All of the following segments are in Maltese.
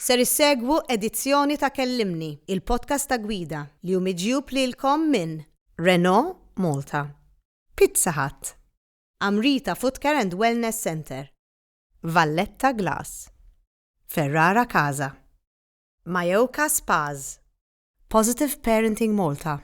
Ser issegwu edizzjoni ta' Kellimni, il-podcast ta' gwida, li hu miġjub lilkom minn. Renault Malta. Pizza Hut. Amrita Footcare and Wellness Centre. Valletta Glass. Ferrara Casa. Majoka Spas. Positive Parenting Malta.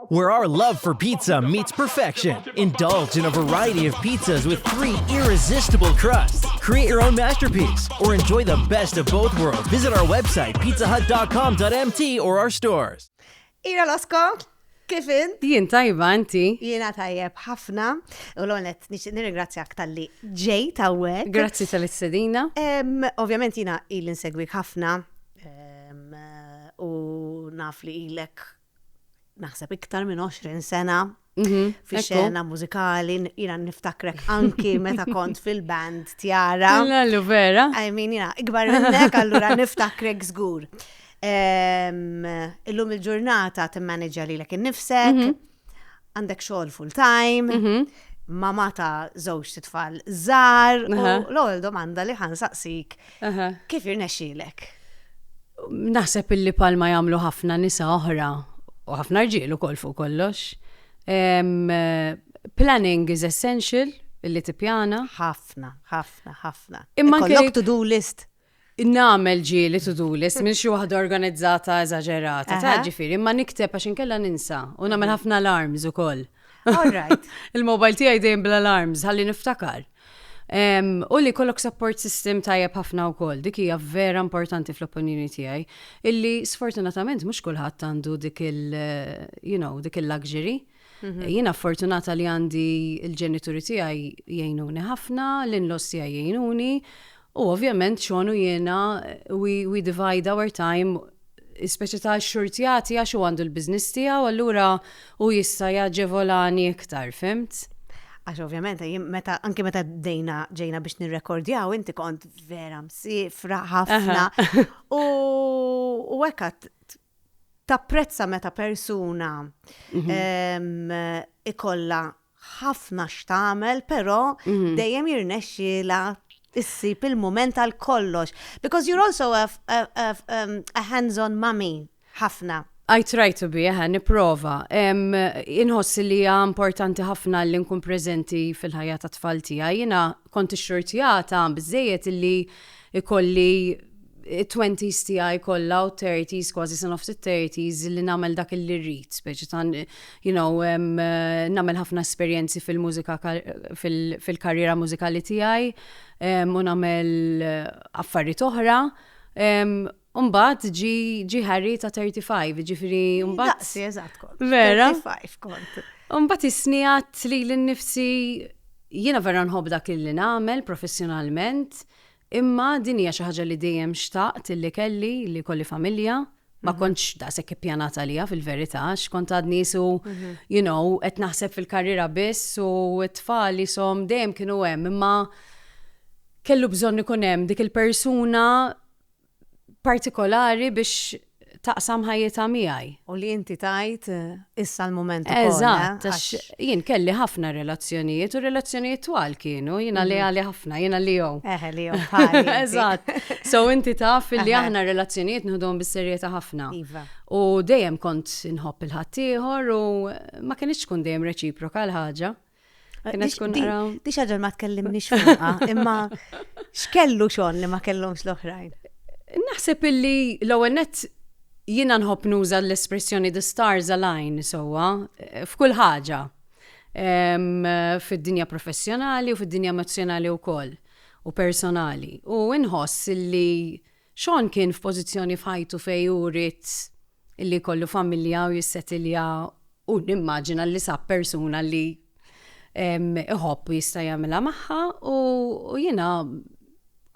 Where our love for pizza meets perfection. Indulge in a variety of pizzas with three irresistible crusts. Create your own masterpiece or enjoy the best of both worlds. Visit our website, pizzahut.com.mt or our stores. Ira Losko, kif in? Jien tajba inti. Jiena tajjeb ħafna u l-onet nirringrazzjak tal-li ġej tawwek. Grazzi tal-istedina. Ovvjament jiena il-insegwik ħafna u naf li ilek naħseb iktar minn 20 sena mhm, fi xena mużikali, jina niftakrek anki meta kont fil-band tjara. Allu vera. I mean, jina, ikbar minnek, allura niftakrek zgur. Illum il-ġurnata t-manager li l-ek nifsek, mhm. għandek xogħol full time, mhm. mama ta' żewġ titfal żar, u l-ewwel domanda li ħansaqsik kif irnexxielek? Naħseb illi palma jagħmlu ħafna nisa oħra u ħafna rġiel ukoll fuq kollox. Planning is essential illi tippjana. Ħafna, ħafna, ħafna. Imma kellek to-do list. nagħmel ġieli to-do list minn xi waħda organizzata eżaġerata, taf ġifieri, imma nikteb għax inkella ninsa u nagħmel ħafna alarms ukoll. Il-mobile tiegħi dejjem bl-alarms ħalli niftakar. U li jkollok support system tajjeb ħafna wkoll, dik hija vera importanti fl-opinjoni tiegħi, illi sfortunatament mhux kulħadd għandu dik il-luxury. Mhm. Jiena fortunata li għandi il-ġenituri tiegħi jgħinuni ħafna, l-inlos tiegħi jgħinuni, u ovvjament xonu jiena we, we divide our time speċi ta' xurtjati għax u għandu l-biznis tiegħu allura u jista' jaġevolani iktar, fimt? Għax ovvjament, meta, anki meta dejna ġejna biex nirrekordjaw, inti kont vera msifra ħafna. U għekat tapprezza meta persuna ikolla ħafna x'tagħmel, però mhm. dejjem jirnexxila issib il-moment għal kollox. Because you're also a, a, a, um, a hands-on mummy ħafna. I try to be, eh, niprofa. Inħoss li hija importanti ħafna li nkun preżenti fil-ħajja ta' tfal tiegħi. Jiena Kont ixxurtjata biżżejjed illi jkolli it-twenties tiegħi kollha u t-thirties, kważi sa nofs it-thirties, li nagħmel dak illi rrid, speċi ta' you know, nagħmel ħafna esperjenzi fil-mużika fil-karriera mużikali tiegħi u nagħmel affarijiet oħra. U mbagħad ġie Harry ta' 35, jiġifieri mbagħad. Daqsi, eżatt kont. Vera? 35 kont. U mbagħad isni għadt lili nnifsi jiena vera nħobb dak li nagħmel professjonalment, imma din hija xi ħaġa li dejjem xtaqt li kelli, li jkolli familja. Ma mhm. kontx daqshekk ippjanat għalija fil-verità, x'kont għadni su, mhm. you know, qed naħseb fil-karriera biss u t-tfal jisom dejjem kienu hemm, imma kellu bżonn ikun hemm dik il-persuna partikolari biex taqsam ħajjitha miegħi. U li inti tgħid issa l-mument ukoll. Eżatt, għax jien kelli ħafna relazzjonijiet u relazzjonijiet twal kienu, jiena li għali ħafna, jiena li jew. Eħe li jew. Eżatt. So inti taf li aħna relazzjonijiet nħudhom bis-serjetà ħafna. Iva. U dejjem kont inħobb il-ħaddieħor u ma kienx tkun dejjem reċiproka l-ħaġa. Kena tkun naraw. Di xaġa ma tkellimniex fuqha, imma x'kellu xon li ma kellhomx l-oħrajn. Naħseb illi l-ewwel nett jiena nħobb nuża l-espressjoni the stars align sewwa f'kull ħaġa fid-dinja professjonali u fid-dinja emozjonali wkoll u personali. U inħoss illi xon kien f'pożizzjoni f'ħajtu fej urit illi kollu familja u jissetilja U nimmaġina li sab persuna li iħobb u jista' jagħmilha magħha u jiena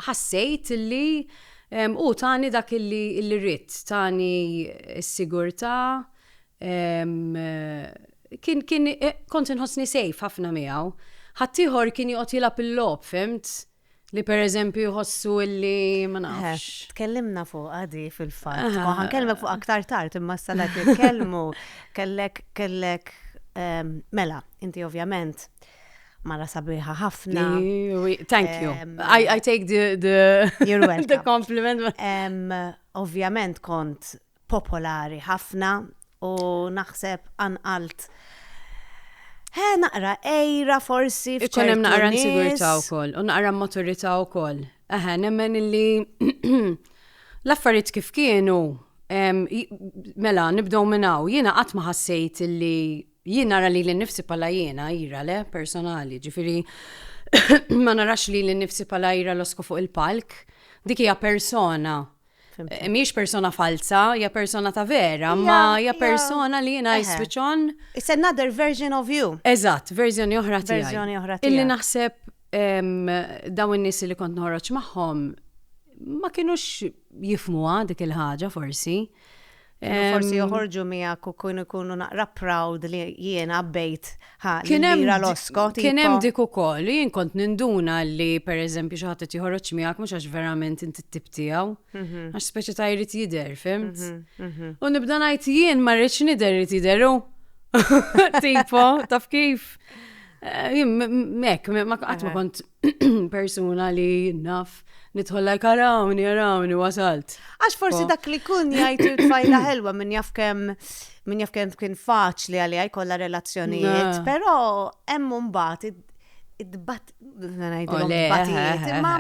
ħassejt li u tani dak li rrid, tani s-sigurtà kien kien kont inħossni safe ħafna miegħu. Ħaddieħor kien joqgħod jilgħab il-logħob, fhimt? Li per eżempju jħossu illi ma nafx. Tkellimna fuq għadi fil-fatt. Ma ħankellmek fuq aktar tard imma s-salat jitkellmu kellek kellek ehm, mela, inti ovvjament mara sabiħa ħafna. Thank you. Ehm, I, I take the, the, the compliment. Ehm, ovvjament kont popolari ħafna u naħseb qanqalt He naqra ejra forsi f'ċertu Ikun hemm naqra insigurtà wkoll u naqra maturità wkoll. Eħe, nemmen illi l-affarijiet kif kienu mela nibdew minn hawn. Jiena qatt ma ħassejt illi jien nara li l-nifsi pala jiena ira le personali, ġifiri ma narax li l-nifsi pala ira losko fuq il-palk. Dik hija persona Miex persona falza, hija persona ta' vera, ma hija persona li jiena jiswiċon. It's another version of you. Eżatt, verżjoni oħra tiegħi. Verżjoni oħra tiegħi. Illi naħseb dawn in-nies li kont noħroġ magħhom ma kienux jifmuha dik il-ħaġa forsi. Forsi joħorġu miegħek u kun ikunu naqra proud li jiena bejt ħalira l-osko. Kien hemm dik ukoll, jien kont ninduna li pereżempju xi ħadd joħroġ miegħek mhux għax verament inti t-tip tiegħu, mhm. għax speċi ta' jrid jidher, fimt? Mhm, mhm. U nibda ngħid jien ma rridx nidher irid jidheru. Tipo, taf kif? Eh, jien mek, ma qatt ma kont persuna li naf nidħol like arawni, arawni, wasalt. Għax forsi dak li kun jgħid il-tfajla ħelwa minn jaf kem minn jaf kem kien faċli għalli għaj kolla relazzjonijiet, pero hemm mbagħad id-bat, batijiet, imma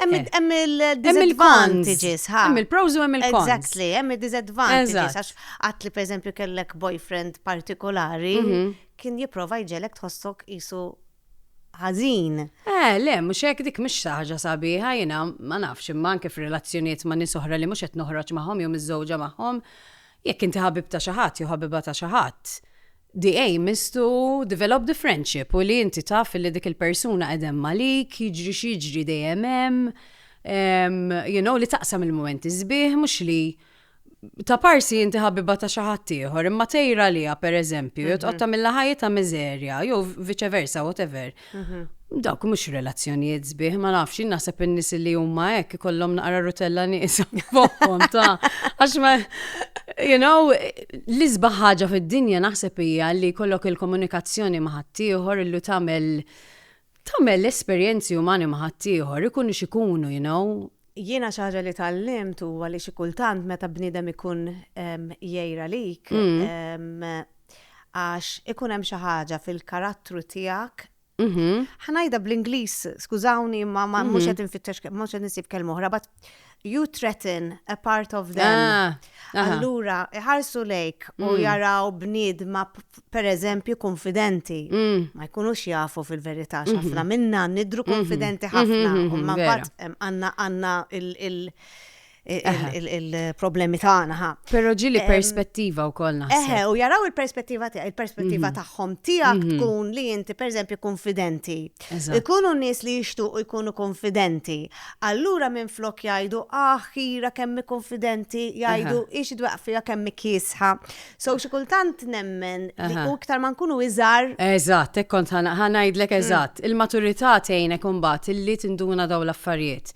hemm il-disadvantages, ha? Hemm il-pros u hemm il-cons. Exactly, hemm il-disadvantages, għax għat li per eżempju kellek boyfriend partikolari, mhm. kien jiprofa jġelek tħossok jisu ħażin. Eh, le, mhux hekk, dik mhix xi ħaġa sabiħa, jiena ma nafx, imma anke f'relazzjonijiet ma' nies oħra li mhux qed noħroġ magħhom jew miżżewġa magħhom, jekk inti ħabib ta' xi ħadd jew ħabiba ta' xi ħadd, the aim is to develop the friendship u li inti taf li dik il-persuna qed hemm għalik, jiġri x'jiġri dejjem hemm, you know, li taqsam il-mumenti sbieħ mhux li Ta' parsi inti ħabiba ta' xi ħadd ieħor, imma tgħir għaliha pereżempju, jew tqgħod tagħmilha ħajjitha miżerja, jew viċe versa, whatever. Dawk mhux relazzjonijiet sbieħ, ma nafx, jien naħseb in-nies li huma hekk ikollhom naqra rutella nieqsa fuqhom ta' għax ma you know, l-isbaħ ħaġa fid-dinja naħseb hija li jkollok il-komunikazzjoni ma' ħaddieħor illi tagħmel Tagħmel l-esperjenzi umani ma' ħaddieħor, ikunu x'ikunu, you know. Jiena xi ħaġa li tgħallimt huwa li xi kultant meta bniedem ikun jgħir għalik, għax ikun hemm xi ħaġa fil-karattru tiegħek, ħa ngħidha bl-Ingliż, skużawni imma mhux qed infittex, mhux qed insib kelma oħra, but You threaten a part of them. Ah, aha. Allura, iħarsu lejk u Mm. jaraw bniedma p- per eżempju konfidenti. Mm. Ma jkunux jafu fil-verità x'ħafna minna nidru konfidenti ħafna. Mhm, mhm, U ma vera. mbagħad em, għandna għandna il- il- il- il- il-problemi tagħna ħa. Pero ġili Em, perspettiva u koll Eħe, naħseb. u jaraw il-perspettiva tiegħek, il-perspettiva tagħhom tiegħek tkun li inti pereżempju konfidenti. Ikunu nies li jixtuqu jkunu kunfidenti. Allura minflok jgħidu, Aħ, Kira kemm hi kunfidenti, jgħidu, Hi xi dwejqaq fiha kemm hi kiesħa. So xi kultant nemmen li u iktar ma nkunu iżgħar. Eżatt, hekk kont ħa ngħidlek eżatt. Il-maturità tgħinek imbagħad illi tinduna dawn l-affarijiet.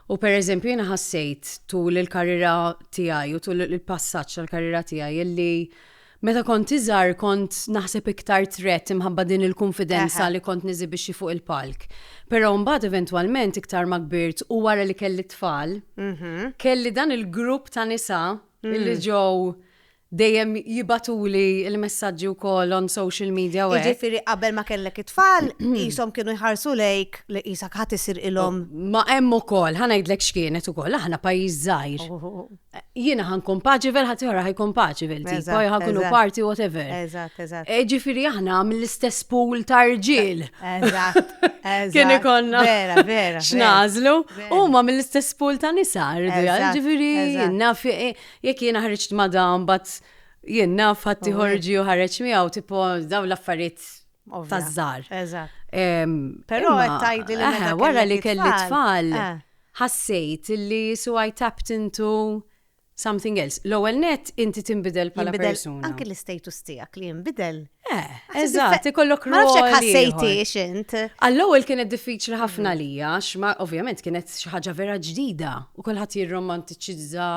U pereżempju jiena ħassejt tul il-karriera tiegħi u tul il-passaġġ tal-karriera tiegħi illi Meta kont iżgħar kont naħseb iktar trett imħabba din il-kunfidenza li kont niżibixxi fuq il-palk. Però mbagħad eventwalment iktar ma kbirt u wara li kelli t-tfal, kelli dan il-grupp ta' nisa li ġew dejjem jibgħatuli l-messaġġi wkoll on social media u hekk. Jiġifieri qabel ma kellek it-tfal qishom kienu jħarsu lejk li qisek ħadd isir ilhom. Ma hemm ukoll, ħa ngħidlek x'kienet ukoll, aħna pajjiż żgħir. jiena ħan kompaċivel, ħadd ħa ħajkun paċivel, tipo ħakunu parti whatever. Eżatt, eżatt. E, ġifieri aħna mill-istess pool ta' rġiel. Eżatt. Kien ikonna. Vera, vera. X'nażlu. Huma mill-istess pool ta' nisa rridu jgħal, ġifieri jiena e, jekk jiena ħriġt ma' dan bat jien naf ħadd ħorġi u ħareġ miegħu tipo dawn l-affarijiet taż-żar. Eżatt. Però qed tgħidli li eh, wara li kelli tfal. Eh. Ħassejt li so I tapped into something else. L-ewwel nett inti tinbidel bħala persuna. Jinbidel anki l-istatus tiegħek li jinbidel. Eh, eżatt, ikollok rol. Ma ħassejtiex int. Għall-ewwel kienet diffiċli ħafna mm. lija, x'ma ovvjament kienet xi ħaġa vera ġdida u kulħadd jirromantiċizza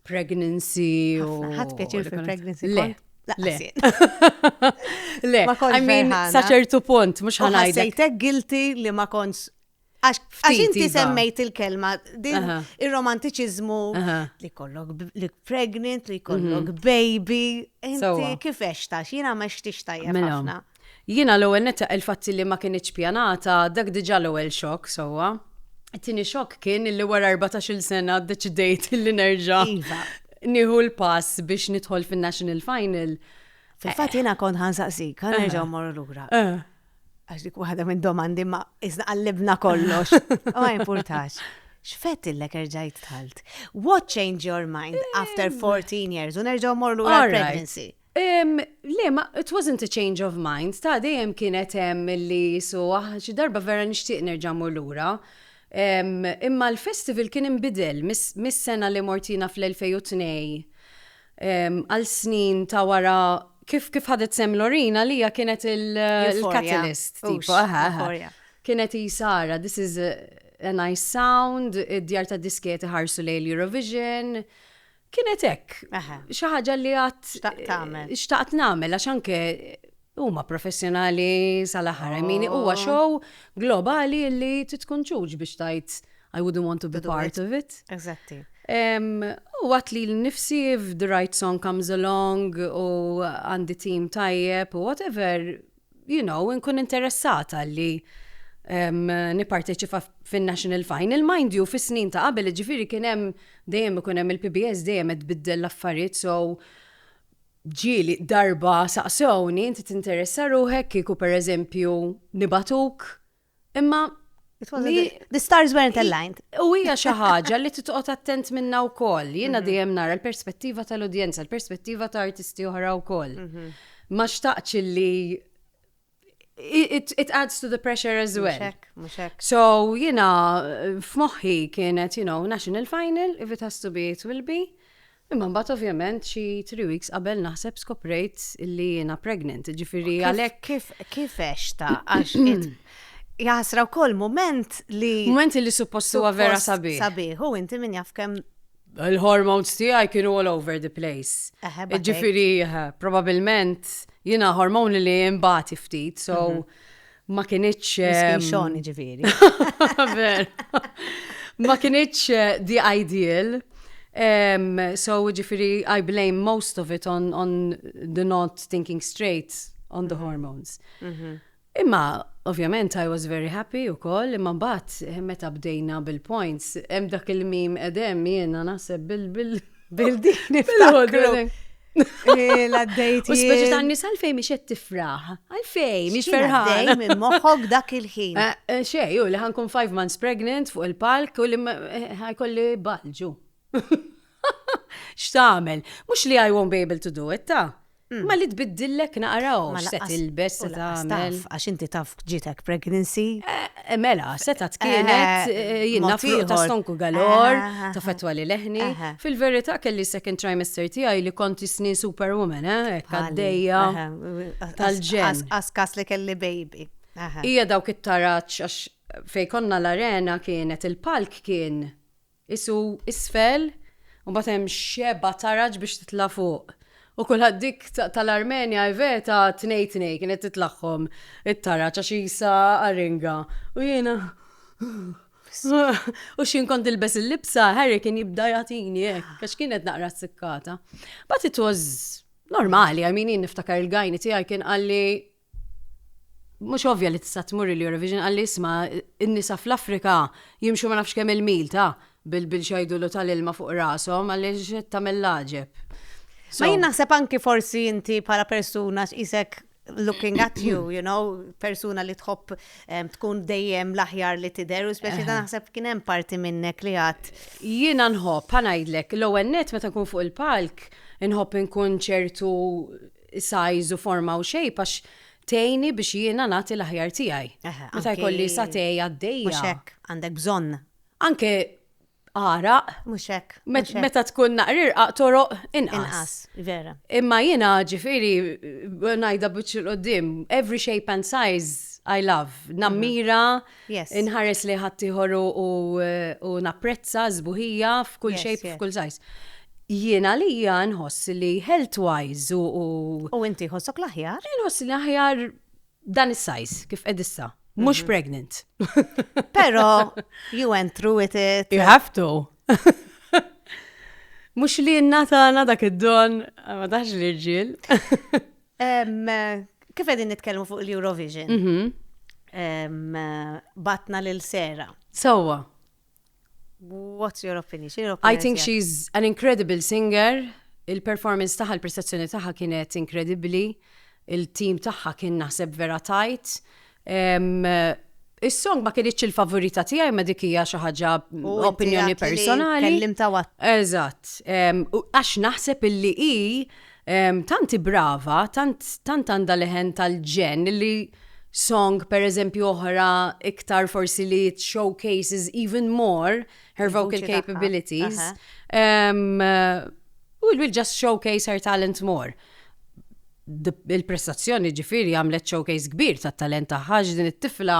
pregnancy u. Ħadd pjaċir fil-pregnancy. Le. Le. Le. I mean, saċertu punt, mux ħanajda. Sejtek guilty li ma konx Għax inti iva. semmejt il-kelma, din il-romantiċizmu li kollok li pregnant, li kollok mhm. baby, inti kif eċta, xina ma xtix tajja mela. ħafna. Jina l-ewel netta il-fatti li ma kienieċ pjanata, dak diġa l-ewel xok, sowa. Tini xok kien li wara 14 sena deċidejt li nerġa. Iva. Niħu l-pass biex nidħol fin-National Final. Fil-fat jina kon ħansaqsik, ħanerġaw morru l-ura. Eh. Għax dik waħda minn domandi ma iżna qallibna kollox. U ma importax. X'fett illek erġajt talt? What changed your mind after 14 years? U nerġgħu morlu la pregnancy. Le, ma, it wasn't a change of mind, ta' dejjem kienet hemm li so, ah, xi darba vera nixtieq nerġa' mur lura. Imma l-festival kien inbidel mis-sena li mortina fl-2002 għal snin ta' wara kif kif ħadet sem Lorin għalija kienet il-catalyst. Kienet jisara, this is a nice sound, id-djar ta' disketi ħarsu lej l-Eurovision. Kienet hekk. Xi ħaġa li għat. Xtaqt nagħmel. Xtaqt nagħmel għax anke Huma professjonali sal-aħħar, I mean, huwa show globali li titkun ġuġ biex tajt I wouldn't want to be part of it. Exactly. U għat li l-nifsi if the right song comes along u għandi team tajjeb u whatever, you know, nkun interessata li niparteċipa fin-national final. Mind you, fis-snin ta' qabel ġifiri kien hemm dejjem ikun hemm il-PBS dejjem qed biddel l-affarijiet so Ġieli darba saqsewni inti tinteressa ruħek kieku pereżempju nibagħtuk imma It was Li- a- the stars weren't aligned. U hija xi ħaġa li titqgħod attent minnha wkoll. Jiena dejjem nara l-perspettiva tal-udjenza, l-perspettiva ta' artisti oħra wkoll. Ma xtaqtx li it, it adds to the pressure as well. Muxek, muxek. So, jina, f'moħħi kienet, you know, national final, if it has to be, it will be. Imma mbagħad ovvjament xi three weeks qabel naħseb skoprejt li jiena pregnant, ġifieri għalhekk kif kif ta' għax jaħsra wkoll moment li moment li suppost huwa vera sabiħ. Sabiħ, u inti min jaf kemm Il-hormones tiegħi kienu all over the place. Ġifieri, probabilment, jiena hormoni li imbati ftit, so mhm. ma kienieċ. Xoni ġifieri. Ma kienieċ eh, the ideal. Um, so ġifiri, I blame most of it on, on the not thinking straight on the mhm. hormones. Mm -hmm. Imma ovvjament I was very happy ukoll imma mbagħad meta bdejna bil-points hemm dak il-meme qed hemm jiena naħseb bil bil bil dik niftakru. Ila d-dejt. U speċi ta' nisa għalfej miex qed tifraħ. Għalfej, miex ferħan. Minn moħħok dak il-ħin. Eh, eh, xej, u li ħankun five months pregnant fuq il-palk u li eh, ħajkolli balġu. X'tagħmel? Mhux li I won't be able to do it, ta'? Mm. Ma li tbiddillek naqraw, ma se tilbes, se tagħmel. Għax inti taf ġitek pregnancy. Eh, eh, mela, seta tkienet eh, jina fuq ta' stonku galor, ta' fetwa li leħni. Fil-verità kelli second trimester tiegħi li konti snin superwoman, eh, għaddejja. Tal-ġen. Askas li kelli baby. Ija dawk it-taraċ, għax fej konna l-arena kienet il-palk kien qisu isfel u mbagħad hemm xebgħa ta' raġ biex titla' fuq. U kulħadd dik tal-Armenja hi veta tnej tnej kienet titlagħhom it-taraġ għax qisha aringa. U jiena u x'jien kont nilbes il-libsa Harry kien jibda jagħtini hekk għax kienet naqra ssikkata. But it was normali, I mean jien niftakar il-gajni tiegħi kien qalli Mhux ovvja li tista' tmur il-Eurovision qalli isma' n-nisa fl-Afrika jimxu ma nafx kemm il-mil ta' bil-xajdulu tal-ilma fuq rashom għaliex qed tagħmel l-għaġeb. Ma jien naħseb anki forsi inti bħala persuna x'qisek looking at you, you know, persuna li tħobb tkun dejjem l-aħjar li tidher u speċi ta' naħseb kien hemm parti minnek li għad. Jiena nħobb, ħa ngħidlek, l-ewwel nett meta nkun fuq il-palk, nħobb inkun ċertu size u forma u shape għax tgħinni biex jiena nagħti l-aħjar tiegħi. Meta jkolli satè għaddejja. Mhux hekk, għandek bżonn. Anke għaraq. Mhux hekk. Meta tkun naqrirqaq toroq inqas. Inqas, vera. Imma jiena ġifieri ngħidha biċċ il-qudiem, every shape and size I love. Nammira. Mm -hmm Inħares lejn ħaddieħor u napprezza s-sbuħija f'kull shape u f'kull size. Jien għalija nħoss li health-wise u. U inti jħossok l-aħjar? Jien nħoss li aħjar dan is-size kif qed issa. Mhux pregnant. Però you went through with it. You have to. Mhux li n-natana dak id-don, ma taħx l-irġiel. Kif qegħdin nitkellmu fuq l-Eurovision? Mhm. Batna lil Sera. Sewwa. What's your opinion? X'inhi l-opinjoni? I think tiegħek? she's an incredible singer. Il-performance tagħha, il-prestazzjoni tagħha kienet inkredibbli. Il-team tagħha kien naħseb vera tajt. Is-song ma kienitx il-favorita tiegħi ma dik hija xi ħaġa opinjoni personali. Kellim ta' wat. Eżatt. Għax naħseb illi hi tanti brava, tant għandha leħen tal-ġen li song per eżempju oħra iktar forsi li showcases even more her vocal capabilities. U will just showcase her talent more. Il-prestazzjoni ġifiri għamlet showcase kbir ta' talent taħħa din it-tifla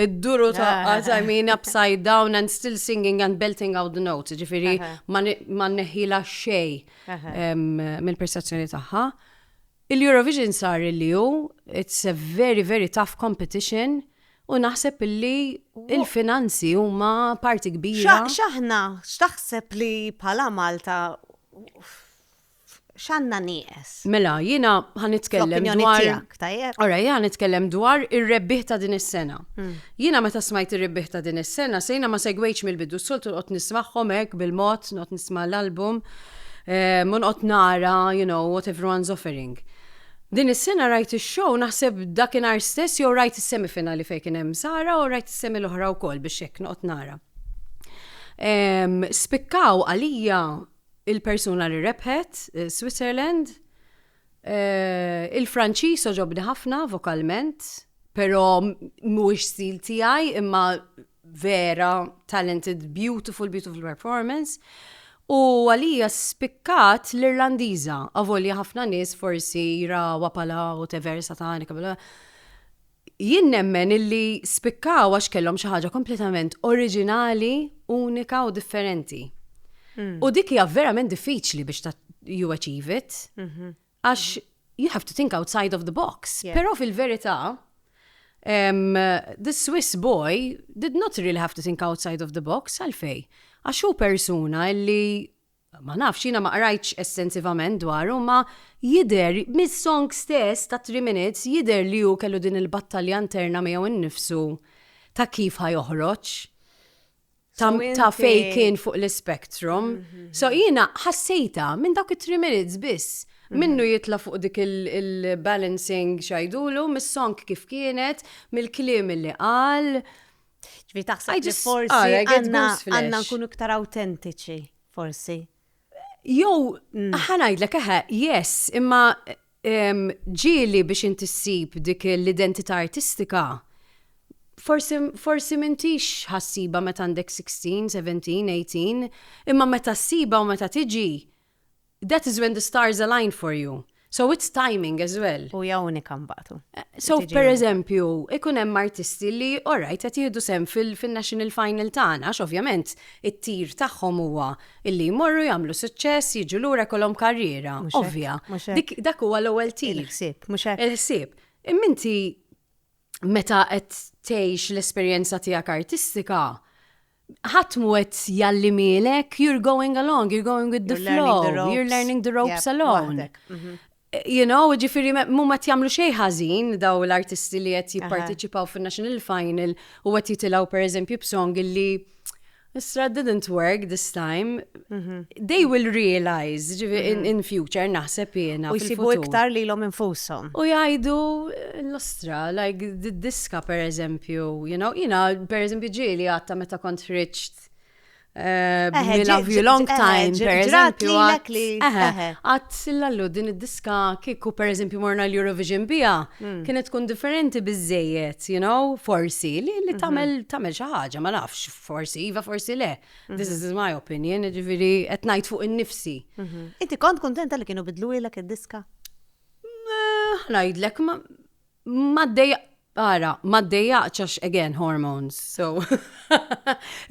id-duru ta' I mean upside down and still singing and belting out the notes ġifiri ma neħila xej mill-prestazzjoni taħħa. Il-Eurovision sar illi hu, it's a very very tough competition u naħseb illi il-finanzi huma parti kbira. X'aħna, x'taħseb li bħala Malta x'għandna nieqes? Mela, jiena ħa nitkellem dwar. Fl-opinjoni tiegħek, tajjeb. Ora, jiena ħa nitkellem dwar ir-rebbieħ ta' din is-sena. Jiena meta smajt ir-rebbieh ta' din is-sena, sejna ma segwejtx mill-bidu, s-soltu noqgħod nismagħhom hekk bil-mod, noqgħod nisma' l-album, u noqgħod nara, you know, what everyone's offering. Din is-sena rajt ix-show naħseb dakinhar stess jew rajt is-semifinali fejn kien hemm Sara u rajt is-semi l-oħra wkoll biex hekk noqgħod nara. Spikkaw għalija il-persuna li rebħet, Switzerland, Il-Franċiż għoġobni ħafna vokalment, però mhuwiex stil tiegħi imma vera talented, beautiful, beautiful performance. U għalija spikkat l-Irlandiża, avolja ħafna nies forsi jrawha bħala whatever satanika, Jien nemmen illi spikkaw għax kellhom xi ħaġa kompletament oriġinali, unika u differenti. U dik hija verament diffiċli biex ta' you achieve it. Għax you have to think outside of the box. Yeah. Però fil-verità, em, the Swiss boy did not really have to think outside of the box, għalfej. Għax hu persuna illi Ma nafx, jiena ma qrajtx estensivament dwaru imma jidher, mis-song stess ta' Three Minutes, jidher li hu kellu din il-battalja interna miegħu nnifsu ta' kif ħa joħroġ, ta' ta' fejn kien fuq l-ispectrum. So jiena ħassejtha minn dawk it-Three Minutes biss. Minnu jitla' fuq dik il-balancing x'għidulu, mis-song kif kienet, mill-kliem li qal, Ġvi taħseb li forsi għanna nkunu iktar autentiċi, forsi. Jow, mm. ħanajdlek eħe, yes, imma ġili biex inti ssib dik l-identità artistika, forsi mintix ħassiba meta għandek 16, 17, 18, imma meta ssiba u meta tiġi, That is when the stars aligned for you. So it's timing as well. U hija unika mbagħad u. So per eżempju, ikun hemm artisti li alright qed jieħdu sehem fin-national final tagħna għax ovvjament it-tir tagħhom huwa illi jmorru jagħmlu suċċess, jiġu lura jkollhom karriera. Ovvja. Dak huwa l-ewwel tir. Il-ħsieb, mhux hekk. Il-ħsieb. Imma inti meta qed tgħix l-esperjenza tiegħek artistika, ħadd mu qed jgħallimielek, you're going along, you're going with the flow, you're learning the ropes alone. Mhm. You know, ġifiri, mu ma jamlu xej ħażin daw l-artisti li qed jipparteċipaw fin-National Final u qed jitilgħu pereżempju b'song li Isra didn't work this time, Mhm. They will realize, ġivi, in, mhm. in future, naħseb jena. U jisibu iktar li l-om infusom. U jajdu l-ostra, like, diska per eżempju, you know, jina, per eżempju, ġili għatta meta kont friċt. Eh, eh, we love you long eh, time, per eżempju. Għat sillallu din id-diska kiku, per eżempju, morna l-Eurovision bija, hmm. kienet tkun differenti bizzejiet, you know, forsi, li mhm. tamel xaħġa, ma nafx, forsi, iva, forsi le. This is my opinion, ġifiri, qed ngħid fuq innifsi. Mhm. Inti kont kontenta li kienu bidlu ilek id-diska? Ngħidlek ma ma dejja ara, ma dejja għax again hormones. So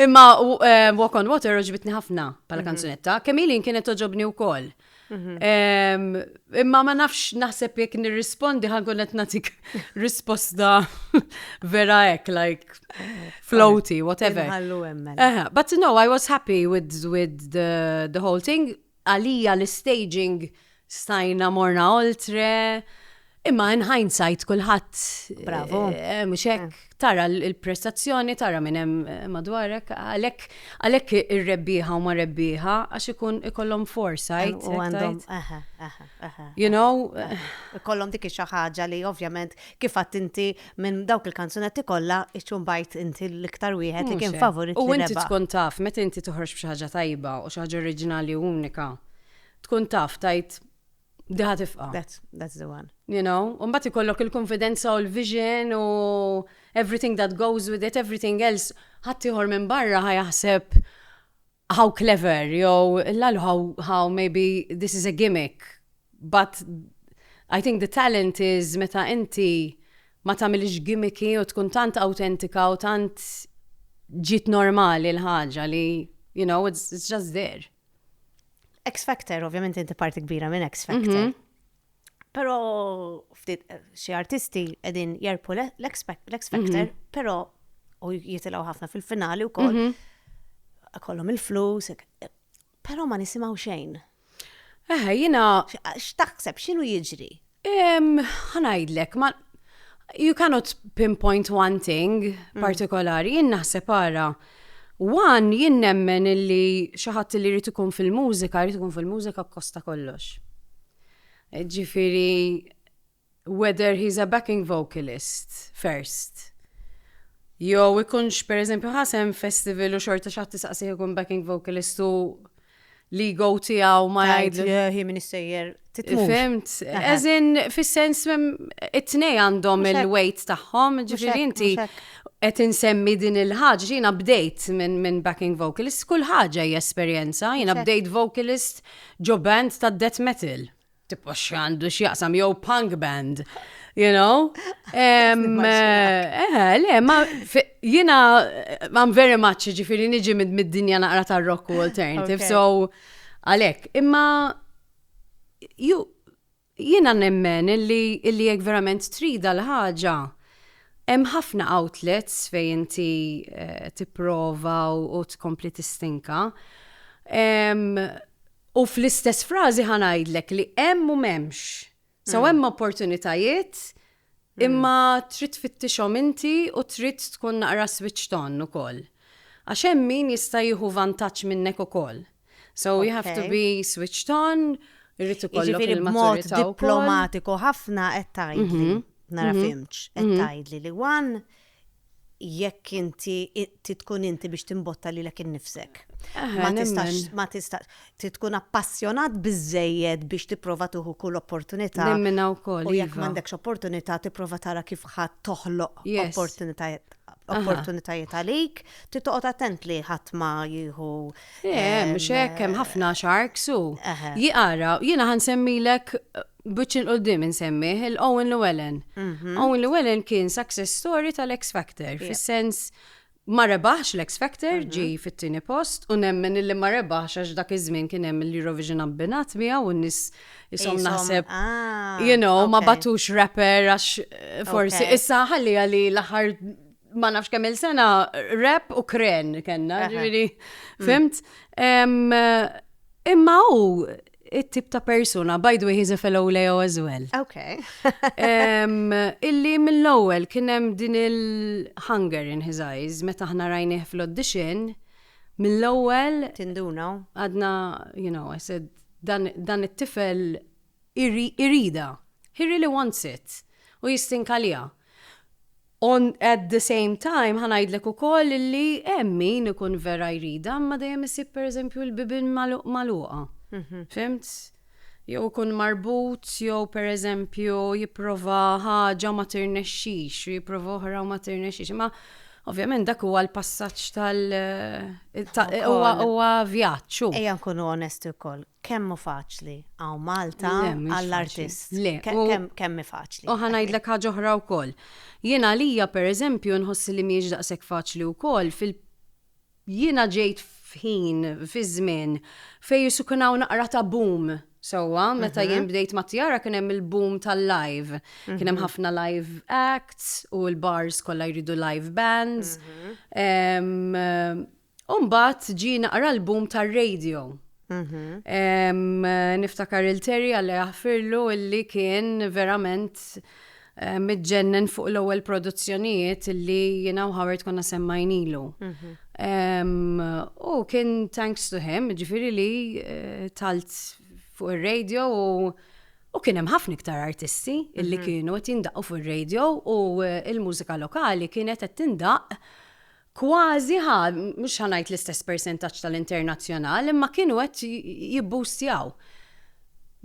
imma eh, Walk on Water oġbitni ħafna bħala mhm. kanzunetta, kemm ilin kienet oġobni wkoll. Imma ma nafx naħseb jekk nirrispondi ħankun qed nagħtik risposta vera hekk like floaty whatever. Mela. But no, I was happy with with the, the whole thing. Għalija l-staging stajna morna oltre. Imma in hindsight kulħadd Bravo. eh, mhux hekk tara l- il-prestazzjoni, tara minn hemm eh, madwarek, għalhekk għalhekk ir-rebbieħa huma rebbieħa għax ikun ikollhom foresight. U hekk għandhom. tgħid. Aha, aha, aha. You know, Ikollhom dik xi ħaġa li ovvjament kif għadd inti minn dawk il-kanzunetti kollha iċċun bajt inti l-iktar wieħed li mhux kien hekk. favorit U li inti rebaħ. tkun taf, meta inti toħroġ b'xi ħaġa tajba u xi ħaġa oriġinali u unika, tkun taf tajt Diħa tifqa. That's, that's the one. You know, un bat ikollok il-konfidenza u l-vision u everything that goes with it, everything else, ħattijħor minn barra ħajaħseb how clever, jew l how, how maybe this is a gimmick, but I think the talent is meta inti ma tamilix gimmicky u tkun tant autentika u tant ġit normali l-ħaġa li, you know, it's, it's just there. X Factor, ovvjament inti parti kbira minn X Factor. Mhm. Pero ftit eh, xi artisti qegħdin jerpu l-X Factor, mhm. pero u jitilgħu ħafna fil-finali wkoll. Mhm. Kollhom il-flus, pero ma nisimgħu xejn. Eħe, jina. X'taħseb x'inhu jiġri? Ehm, ħa ngħidlek, ma you cannot pinpoint one thing mm. partikolari, jien naħseb ara. Wan jien nemmen illi xi ħadd li jrid ikun fil-mużika, jrid ikun fil-mużika kosta kollox. Ġifiri, whether he's a backing vocalist first. Jo, ikunx per eżempju ħasem festival u xorta xaħti saqsi ikun backing vocalist u l-ego tiegħu ma jgħid. Hi min issejjer titmur. Fimt, eżin fis-sens it-tnej għandhom il-weight tagħhom, ġifieri inti qed insemmi din il-ħaġa, jiena bdejt minn min backing vocalist, kull ħaġa hija esperjenza, jiena bdejt vocalist ġo band ta' death metal. Tipo x'għandu x'jaqsam jew punk band. You know? Um, eh, le, ma jina, I'm very much, ġifiri niġi mid-dinja naqra ta' rock u alternative, so għalek, imma ju, jina nemmen illi illi jek verament trida l-ħaġa, hemm ħafna outlets fej inti eh, tipprova u tkompli tistinka. U fl-istess frażi ħa ngħidlek li hemm u m'hemmx. So hemm opportunitajiet imma trid tfittixhom inti u trid tkun naqra switched on ukoll. Għax hemm min jista' jieħu vantaġġ minnek ukoll. So you have to be switched on, irrid ikollok il-maturità. B'mod diplomatiku ħafna qed tgħidli, nara fimx, qed tgħidli li one jekk inti trid tkun inti biex timbotta lilek innifsek. Ma tistax ma tistax trid tkun appassjonat biżejjed biex tipprova tieħu kull opportunità. Nemmina wkoll. U jekk iva. m'għandekx opportunità tipprova tara kif ħadd toħloq opportunitajiet opportunitajiet għalik, trid toqgħod attent li ħadd ma jieħu. Eh, mhux hekk hemm ħafna sharks u. Jiqara, jiena ħansemmilek B'wiċċ 'il quddiem insemmih il-Owen Llewellyn. Mhm. Owen Llewellyn kien success story tal-X Factor, fis-sens ma rebaħx l-X Factor, mhm. ġi fit-tieni post, u nemmen illi ma rebaħx għax dak iż-żmien kien hemm l-Eurovision abbinat miegħu u n-nies isom naħseb, ah, you know, ma batux rapper għax eh, forsi issa ħalli għalli l-aħħar ma nafx kemm il-sena rap u kren kellna, ġifieri, fimt? Imma hu it-tip ta' persuna, by the way, he's a fellow Leo as well. Ok. illi mill-ewwel kien hemm din il-hunger in his eyes, meta aħna rajnieh fl-audition, mill-ewwel. Tinduna. Għadna, you know, I said, dan it-tifel irida. He really wants it. U jistinka liha. On at the same time ħa ngħidlek ukoll li hemm min ikun vera jridha imma dejjem isib pereżempju l-bibien magħluqa. Mhm. Fimt? jew ikun marbut jew pereżempju jipprova ħaġa ma tirnexxix u jipprova oħra u ma tirnexxix. Ma ovvjament dak huwa l-passaġġ tal eh, huwa vjaġġ. Ejja nkunu onesti wkoll. Kemm hu faċli hawn Malta għall-artist. Le, mhux faċli. Le, kemm hi faċli. U ħa ngħidlek ħaġa oħra wkoll. Jien għalija pereżempju nħossi li mhijiex daqshekk faċli wkoll fil jiena ġejt f'ħin, fi żmien, fejn isu kien hawn naqra ta' boom sewwa. Meta jien bdejt ma' Tiara kien hemm il-boom tal-live. Kien hemm ħafna live acts u l-bars kollha jridu live bands. U mbagħad ġie naqra l-boom tar-radio. Niftakar il-Terry għalla jaħfirlu illi kien verament mitġennen fuq l-ewwel produzzjonijiet illi jiena u Howard konna semmajnilu. U kien thanks to him, ġifieri li eh, talt fuq ir-radio u U kien hemm ħafna iktar artisti illi mhm. kienu qed jindaqqu fir-radio u eh, l-mużika lokali kienet qed tindaqq kważi ħa, mhux ħa ngħid l-istess persentaġġ tal-internazzjonal, imma kienu qed jibboostjaw.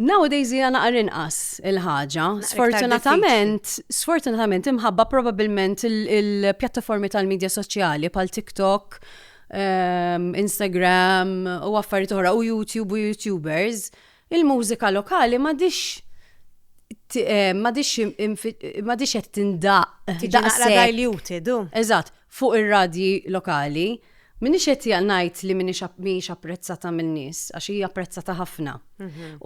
Nowadays hija naqra inqas il-ħaġa, sfortunatament, sfortunatament imħabba probabbilment il-pjattaformi tal-medja soċjali bħal TikTok, ehm, Instagram u affarijiet oħra u YouTube u YouTubers Il-mużika lokali m'għadhiex m'għadhiex m'għadhiex qed tindaqq. Tiġi naqra diluted, hu. Eżatt, fuq ir-radji lokali. M'iniex qed ngħid li mhijiex apprezzata min-nies, għax hi apprezzata ħafna.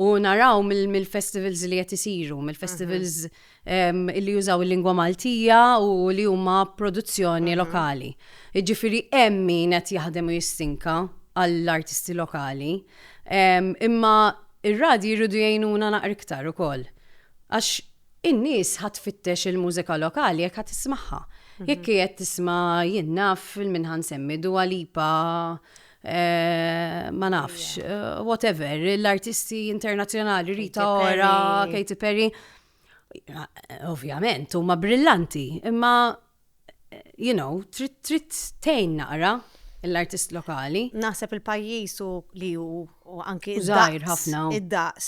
U naraw mill-festivals li qed isiru, mill-festivals li jużaw il-lingwa Maltija u li huma produzzjoni mhm. lokali. Ġifiri hemm min qed jaħdem u jistinka għall-artisti lokali. Imma ir-radi jridu jgħinuna naqra iktar ukoll. Għax in-nies ħadd fittex il-mużika lokali jekk ħadd tismagħha. Mhm. Jekk qiegħed tisma' jien naf il-minħan semmi Dua Lipa Eh, ma nafx, eh, whatever, l-artisti internazjonali, Rita Ora, Katy Perry, Ovvjament, huma brillanti, imma you know, trid trid tgħin naqra l-artist lokali. Naħseb il-pajjiż u li hu u anki żgħir ħafna. Id-daqs.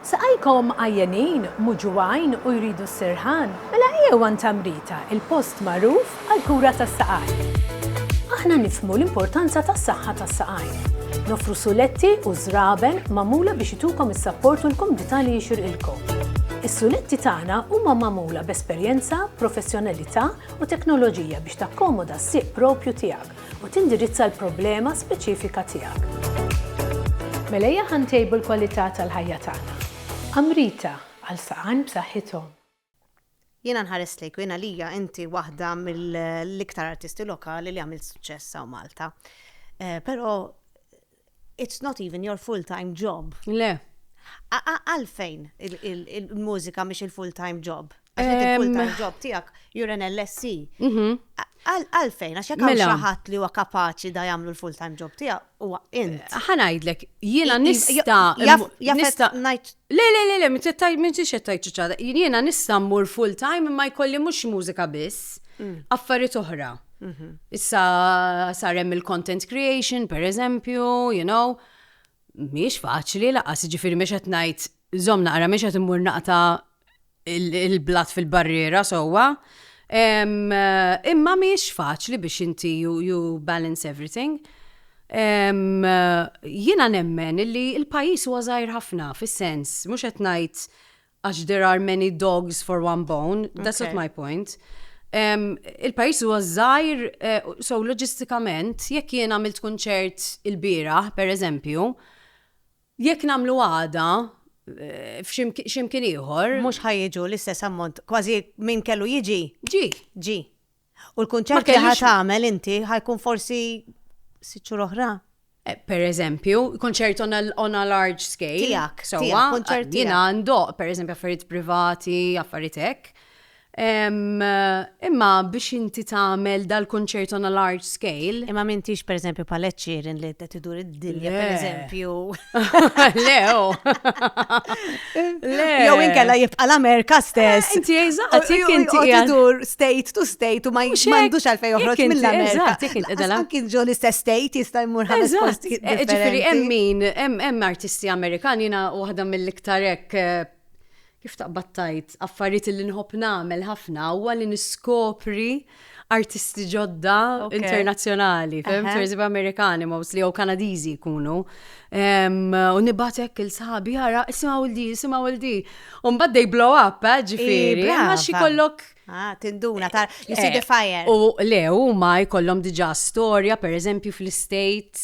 Saqajkom għajjenin, muġugħin u jridu s-sirħan? Mela ejjew għand Tamrita, il-post magħruf għall-kura tas-saqajn. Aħna nifhmu l-importanza tas-saħħa tas-saqajn. Noffru suletti u żraben magħmula biex itukom is-sapport u l-kumdità li jixirqilkom. Is-suletti tagħna huma magħmula b'esperjenza, professjonalità u teknoloġija biex takkomoda s-sieq proprju tiegħek. u tindirizza l-problema speċifika tiegħek. Mela ejja ħa ntejbu l-kwalità tal-ħajja tagħna. Amrita, għal saqajn b'saħħithom. Jiena nħares lejk u jien għalija inti waħda mill-iktar artisti lokali li għamilt suċċess hawn Malta. Però it's not even your full-time job. Le. Għalfejn il-mużika mhix il-full-time job? Għax il-full-time job tiegħek you're an LSC. Mhm. Għalfejn, għax jekk mela. ħadd li huwa kapaċi da jagħmlu l-full-time job tiegħek huwa int. Ħanajdlek, jiena nista' nista' ngħid Le, le, le, le, m'int qed tgħid, m'intix qed tgħid ċuċata. Jiena nista' mmur full time imma jkolli mhux mużika biss, affarijiet oħra. Issa sar hemm il-content creation, pereżempju, you know. Mhijiex faċli lanqas, jiġifieri mhix qed ngħid żomm naqra, mhix qed immur naqta' il-blat fil-barriera sewwa. Imma mhijiex faċli biex inti you balance everything. Jiena nemmen li l-pajjiż huwa żgħir ħafna fis-sens, mhux qed ngħid għax there are many dogs for one bone, that's not my point. Il-pajjiż huwa żgħir, so loġistikament jekk jien għamilt kunċert ilbieraħ, pereżempju, Jekk nagħmlu għada, f'xi mkien ieħor. Mhux ħa jiġu l-istess ammont. Kważi min kellu jiġi. Ġie. Ġie. U l-kunċert li ħa tagħmel inti ħa jkun forsi sitt xhur oħra. Per eżempju, kunċert on a large scale. Tiegħek. Sewwa. Kunċert. Jiena ndoqq, per eżempju, affarijiet privati, affarijiet hekk. Imma biex inti tagħmel dal-concerto on a large scale. Imma m'intix pereżempju bħal Ed Sheeran li qed idur id-dinja Le. pereżempju. Le, oh. Le. Jew inkella jibqa' l-Amerika stess. Eh, Inti eżatt, Għatik jekk inti inti qiegħed- idur state to state u ma Mhux hekk. m'għandux għalfejn Jekk joħroġ inti- mill-Amerika. eżatt, jekk inti qiegħda- Anki ġo l-istess state jista' jmur ħames Eżatt, postijiet eh, differenti. ġifiri hemm min, hemm hemm artisti Amerikani jiena waħda mill-iktar hekk eh, Kif taqbad tgħid, affarijiet li nħobb nagħmel ħafna huwa li niskopri artisti ġodda internazzjonali, fim, turizmi Amerikani mostly jew Kanadiżi jkunu. U nibatek il-sabi jara, isimgħu l-di, isimgħu l-di. U mbagħad they blow up, eh, ġifieri. Ma xi kollok Ah, tinduna, ta' you see the eh, fire. U le, huma jkollhom diġà storja, per eżempju, fl-States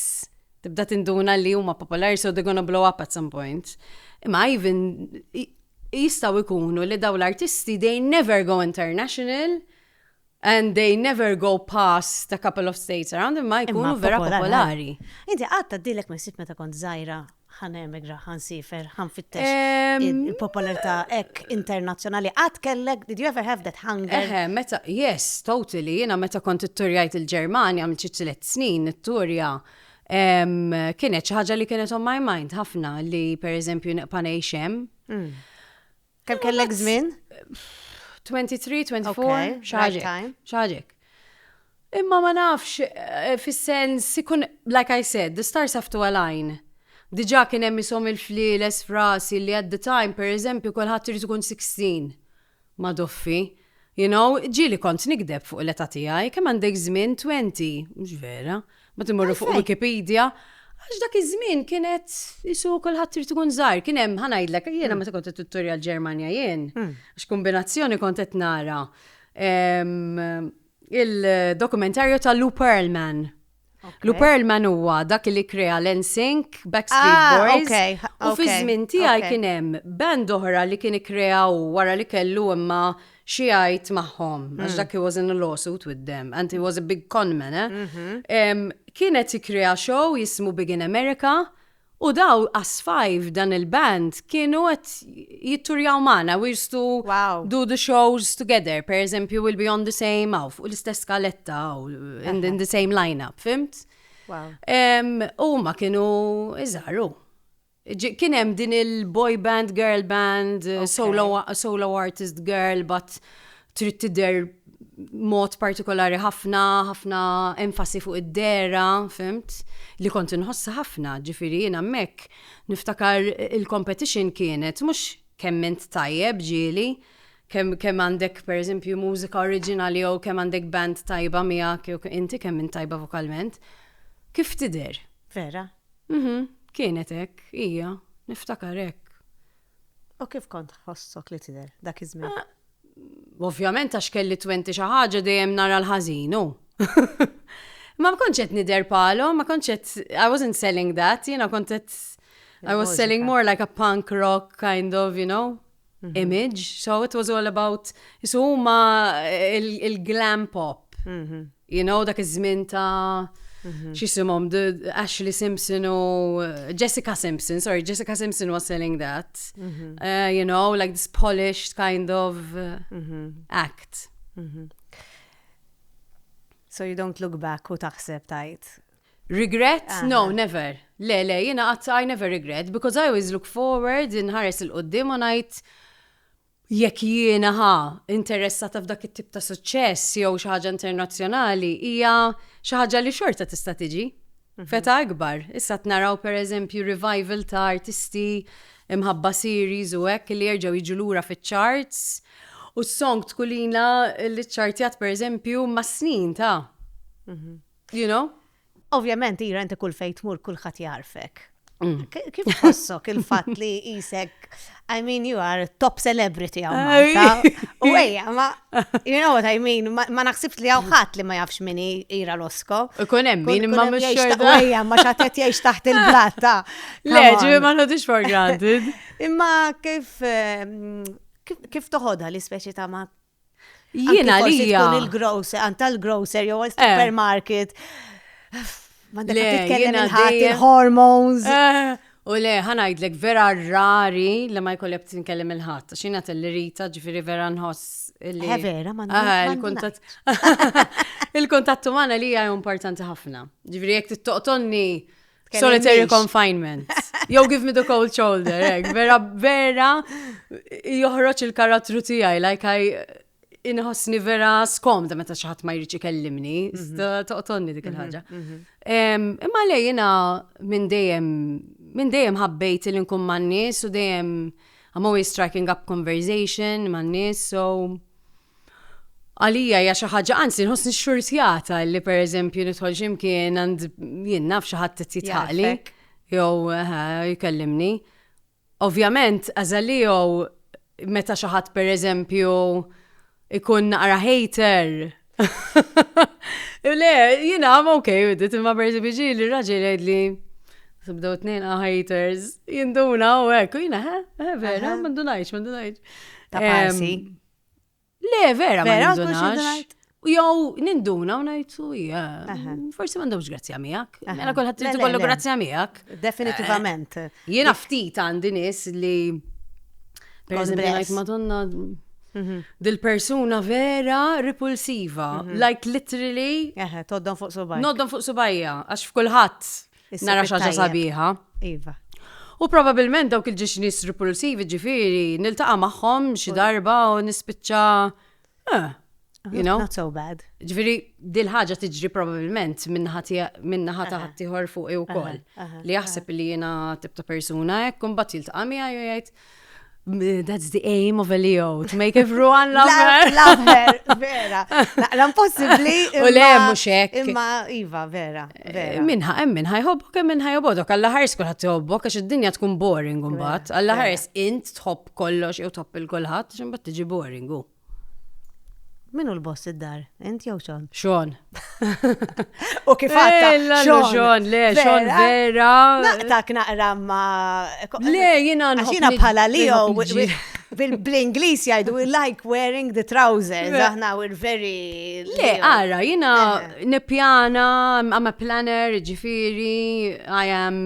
Tibda tinduna li huma popolari so they're gonna blow up at some point. Imma even jistaw ikunu li daw l-artisti they never go international and they never go past a couple of states around imma jkunu vera popolari. Inti għatta dilek ma jisib meta kont zaħira ħanem Ra ħa nsiefer, ħa nfittex il-popolarità hekk internazzjonali. Qatt kellek, did you ever have that hunger? Eħe, meta, yes, totally, jiena meta kont itturjajt il-Ġermanja għamilt xi tliet snin it-turja kienet xi ħaġa li kienet on my mind ħafna li pereżempju neqpa' ngħix hemm. Mm. Kemm kellek żmien? 23, 24, xaġek. Xaġek. Imma ma nafx, eh, fis-sens, ikun, like I said, the stars have to align. Diġa kien hemm isom il-fliles frasi li at the time, per eżempju, kulħadd irid ikun 16 ma doffi. You know, ġieli kont nigdeb fuq l-età tiegħi, kemm għandek żmien, twenty, mhux vera, mbagħad immorru fuq Wikipedia, għax dak iż-żmien kienet qisu kulħadd irid ikun żgħir, kien hemm ħa ngħidlek, jiena meta kont qed nitturja l-Ġermanja jien, għax kombinazzjoni kont qed nara il-dokumentarju ta' Lou Pearlman. Lou Pearlman huwa dak li krea l-NSYNC, Backstreet ah, Boys. U fi żmien tiegħi kien hemm band oħra li kien ikkreaw wara li kellu imma xi għajt magħhom għax mm. dak he was in a lawsuit with them and he was a big conman. Eh? Mm-hmm. Kienet ikkrea show jismu Big in America U daw għasfaj f'dan il-band kienu qed jitturjaw magħna, we used to do the shows together, per eżempju We'll Be On The Same hawn fuq l-istess skaletta u in the same line-up, fhimt? U huma kienu iżgħar u. Kien hemm din il-boy band, girl band, solo artist girl, but trid tidher mod partikolari ħafna, ħafna enfasi fuq id-dera, fimt, li kont inħossa ħafna, ġifiri jien hemmhekk niftakar il-competition kienet mhux kemm int tajjeb ġieli, kemm kemm għandek pereżempju mużika oriġinali jew kemm għandek band tajba miegħek jew inti kemm int tajba vokalment. Kif tidher? Vera? Mhm, kienet hekk, hija, niftakar hekk. U kif kont tħossok li tidher dak iż-żmien? Ovvjament għax kelli twenti xi ħaġa dejjem nara l-ħażin, hu. Ma kontx qed nidher bħalhom, ma kontx qed I wasn't selling that, jiena kont qed I was selling more like a punk rock kind of, you know, mhm. image. So it was all about, so huma il-glam pop. Mhm. You know, dak iż-żmien ta' mhm. xisimhom Ashley Simpson u uh, Jessica Simpson, sorry, Jessica Simpson was selling that. Mhm. Uh, you know, like this polished kind of uh, mhm. act. So you don't look back u taħseb tajt. Regret? Uh -huh. No, never. Le, le, jina għat I never regret because I always look forward, nħares il-qoddim u najt Jekk jiena, ħa, interessata f'dak it-tip ta' suċċess jew xi ħaġa internazzjonali, hija xi ħaġa li xorta tista' tiġi. F'età ikbar, issa qed naraw pereżempju revival ta' artisti mħabba series u hekk li jerġgħu jiġu lura fiċ-charts u s-song tkulina li ċċartjat pereżempju mas-snin ta'. You know? Ovvjament, ira inti kull fejn tmur kulħadd jagħrfek. Mm. Kif tħossok il-fatt li jisek, I mean, you are top celebrity għaw Malta. U għeja, ma, you know what I mean, ma naħsibx li għaw ħat li ma jafx minni ira l-osko. Kun emmin, ma mux xorta. Għeja, ma xatet jiex taħt il-blatta. Le, ġivi ma nħodix for granted. Imma kif, ehm, kif toħodha li speċi ta' ma Jiena li tkun il-grocer, għanta l-grocer jew eh. supermarket. Ma dak titkellem il-hormones. Eh. U le, ħanajdlek vera rari li ma jkollek tinkellem il-ħadd. Xina telli rita ġifiri vera nħoss li. Eh, vera, ma ah, il-kuntat. Il-kuntat umana li hija importanti ħafna. Ġifiri jek t-toqtonni Solitary confinement. Yo, give me the cold shoulder, ek. Vera, vera, joħroċ il-karattru tijaj, like I inħossni vera skomda meta xaħat ma jriċi kellimni, mhm. toqtonni dik mhm, il-ħagġa. Mhm. Imma li jina minn dejjem, minn dejjem ħabbejt il nkun man-nies u dejjem I'm always striking up conversation man-nies, so Għalija hija xi ħaġa, anzi nħossni xxurtjata li pereżempju nidħol xi mkien għand jien naf xi ħadd qed jitħaqli jew jkellimni. Ovvjament, għażalli jew meta xi ħadd pereżempju ikun naqra hater. Le, jien għam ok, bdiet imma pereżempju ġi li raġel jgħidli Sibdew tnejn ah, haters, jinduna u hekk, jina, ha, vera, ma ndunajx, ma ndunajx. Ta' parsi. Le, vera, ma Vera, għadkom xi nindunax. ngħid? U Jew ninduna u ngħid u hija. Aha. Forsi m'għandhomx grazzja miegħek. Aha. Mela kulħadd Le, trid le, ikollu le. grazzja miegħek. Definitivament. Jiena ftit għandi nies li per eżempju Kongress. ngħid Madonna Mhm. dil-persuna vera repulsiva. Like literally Eħe, toddon fuq subaj. noddhom fuq subajja għax f'kulħadd Nara xaġa sabiħa. Iva. U probabilment dawk il-ġiġnis repulsivi ġifiri, niltaqa maħħom xi darba u nispiċċa. Eh, you know? Not so bad. Ġifiri, dil-ħagġa tiġri probabilment minna ħata ħattijħor fuq u kol. Li jaħseb li jena tibta persuna, ekkum bat jiltaqa mija jgħajt. That's the aim of a Leo, to make everyone love her. Love her, vera. Naqra impossibli. U le, muxek. Imma, Iva, vera. Eh, minħa, em minħa jħobbok, em minħa jħobbok. Alla ħars kullħat jħobbok, għax id-dinja tkun boring un-bat. Alla ħars int tħobb kollox, jew tħobb il-kullħat, ximbat tiġi boring. Min hu l-boss id-dar? Int jew Sean? Sean. U kif għatta? Sean, le, Sean vera. Naqtak naqra ma. Le, jina nħu. Jina bħala li bil-Inglis jajdu we like wearing the trousers, aħna we're very. Le, għara, jina eh. nepjana, I'm a planner, ġifiri, I am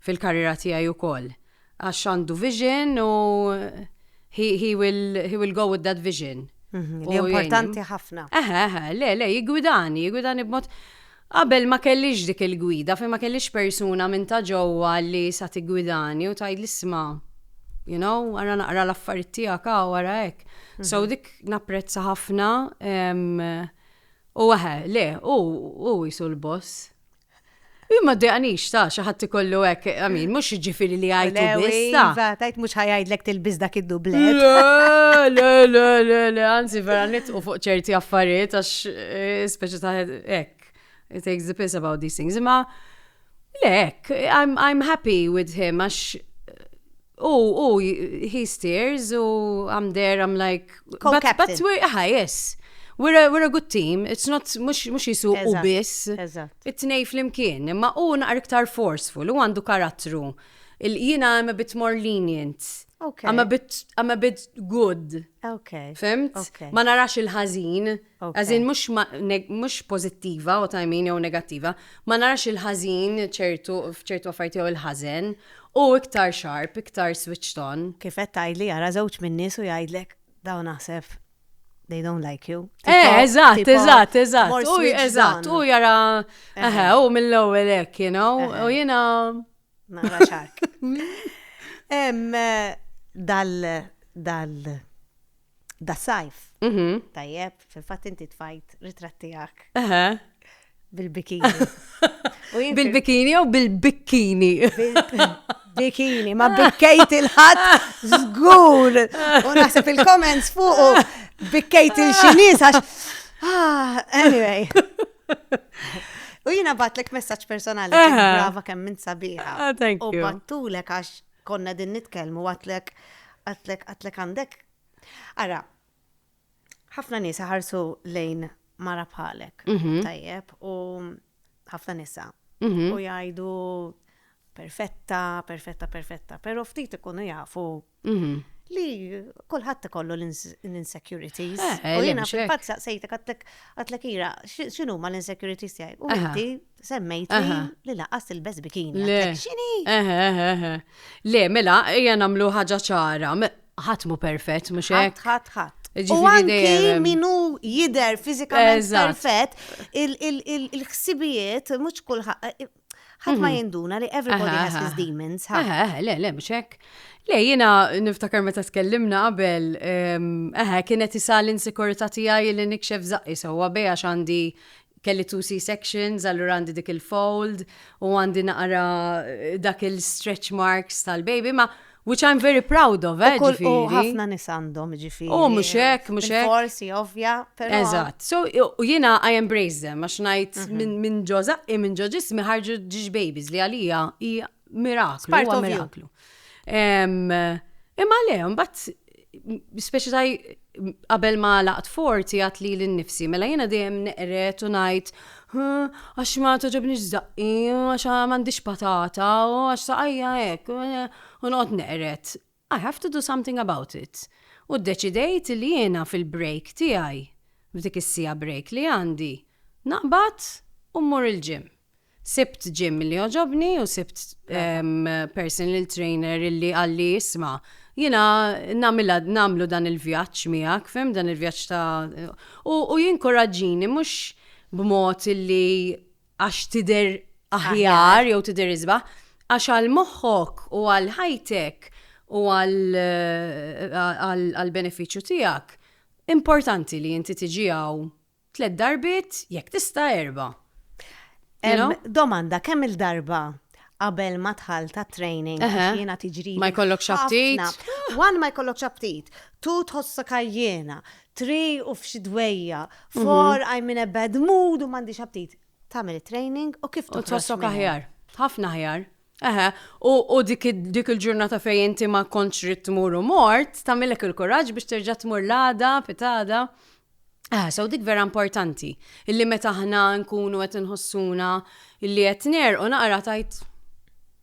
fil-karriera tiegħi ukoll għax għandu vision u he will go with that vision. Mhm, li importanti ħafna. Eħe, eħe, le, le, jigwidani, jigwidani b'mod. Qabel ma kellix dik il-gwida, fejn ma kellix persuna minn ta' ġewwa li sa tigwidani u tgħid l-isma' you know, għara naqra l-affarijiet tiegħek u għara hekk. So mhm. dik napprezza ħafna u għahe, le, u jisu l-boss. Jien ma dejqanix ta' xi ħadd ikollu hekk, I mean, mhux jiġifieri li għajtu Lewi, biss. ta. Iva, tajt mhux ħajajdlek tilbis dak id-dublet. Le, le, le, le, le, anzi vera nitqu fuq ċerti affarijiet għax eh, speċi ta' hekk. It takes the piss about these things. Imma le, hekk, I'm, I'm happy with him għax U, u, he steers, u I'm there, I'm like. Co-captain. But, but aha, yes. We're a, we're a good team, it's not, mux, mux jisu u biss. It-tnej fl-imkien, imma u naqar iktar forceful, u għandu karattru. Il-jina I'm a bit more lenient. Okay. I'm a bit, I'm a bit good. Okay. Fimt? Okay. Ma narax il-ħazin. As in mhux mhux pożittiva what I mean jew negattiva, ma narax il-ħażin ċertu f'ċertu affarijiet jew il-ħażen, hu iktar sharp, iktar switched on. Kif qed tgħidli jara żewġ min-nies u jgħidlek dawn aħseb they don't like you. Eh, eżatt, eżatt, eżatt. U eżatt, u jara eħe, u mill-ewwel hekk, you know, u jiena nara xark. Hemm eh, dal dal Da sajf. Mhm. Tajjeb, fil-fatt inti tfajt ritratt tiegħek Eħe. bil-bikini. U jien Bil-bikini jew bil-bikkini? bikini, ma bikkejt il-ħadd żgur. U naħseb il-comments fuq u bikkejt il-Ċiniż għax. Ah, anyway. U jiena batlek messaġġ personali kemm Aha. brava kemm minn sabiħa. Ah, thank U you. battulek għax Konna qegħdin nitkellmu għadtlek għadtlek għadtlek għandek Ara, ħafna nies ħarsu lejn mara bħalek, mhm. tajjeb, u ħafna nisa. Mhm. U jgħidu perfetta, perfetta, perfetta, pero ftit ikunu jafu mhm. li kullħat ikollu l-insecurities. Eh, eh, u jena fil-fatt saqsejtek għatlek ira, xinu ma l-insecurities jgħaj? U għaddi Semmejt li laqas il-bez bikini. Le, xini? Eħe, eħe, Le, mela, ejja namlu ħaġa ċara. Ħatmu perfett, mux hekk. Ħat, ħat, U anki minu jider fizikament perfett, il-ħsibijiet, mux kullħat, ħat ma mhm. jinduna li everybody has his demons. Le, le, mux hekk. Le, jina niftakar meta tkellimna qabel, eħe, kienet isa l-insikurità tiegħi li nikxef zaqqi sewwa beja għax għandi Kelli two C-sections allura għandi dik il-fold u għandi naqra dak il-stretch marks tal-baby ma which I'm very proud of, eh, ġifiri. U ħafna nis għandhom, ġifiri. U mux hekk, mux hekk. Forsi, ovvja, pero. Eżat. So, u jina I embrace them, għax najt mhm. minn ġoza, i minn ġoġis miħarġu ġiġ babies li għalija hija miraklu, part of miraklu. Imma le, mbatt, speċi taj qabel ma laqt forti għat li l-nifsi, mela jena dejjem neqret u najt, għax ma toġobni ġdaqqi, għax ma għandix patata, għax saqajja ek, u noqt neqret. I have to do something about it. U ddeċidejt li jiena fil-break tiegħi, f'dik is-siegħa break li għandi, naqbad u mmur il-gym. Sibt gym li għoġobni u sibt personal trainer li qalli isma' jiena nagħmilha nagħmlu dan il-vjaġġ miegħek, fhimt, dan il-vjaġġ ta' u jinkuraġġini mhux b'mod li għax tidher aħjar jew tidher isbaħ, għax għal moħħok u għal ħajtek u għal benefiċċju tiegħek importanti li inti tiġi hawn tliet darbiet jekk tista' erba'. Domanda kemm il-darba qabel ma tħall ta' training għax jiena tiġri. Ma jkollok xabtit. One ma jkollok xabtit, tu tħossok għajjena, three u f'xi dwejja, mhm. four I'm in a bad mood u m'għandix aptit. Tagħmel training u kif tħossok aħjar. Ħafna aħjar. Eħe, u dik il-ġurnata fej inti ma kontx rrid tmur u mort, tagħmilek il-kuraġġ biex terġa' tmur l-għada, pitada. Eħe, so dik vera importanti. Illi meta aħna nkunu qed inħossuna illi qed ner u naqra tajt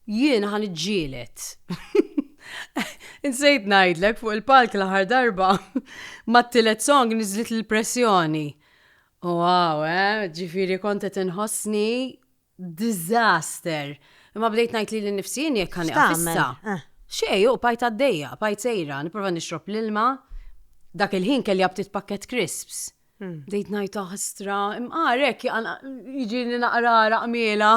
Jien ħa niġġieled. Insejt ngħidlek fuq il-palk l-aħħar darba mat-tielet song niżlet l-pressjoni. Wow, eh, ġifieri kont qed inħossni disaster. Imma bdejt ngħid li l-nifsien jekk kan issa. Eh. Xej, u pajt għaddejja, pajt sejra, niprofa nixrob l-ilma. Dak il-ħin kelli għabtit pakket crisps. Dejt najt ħastra, imqarek, jġini naqra raqmiela.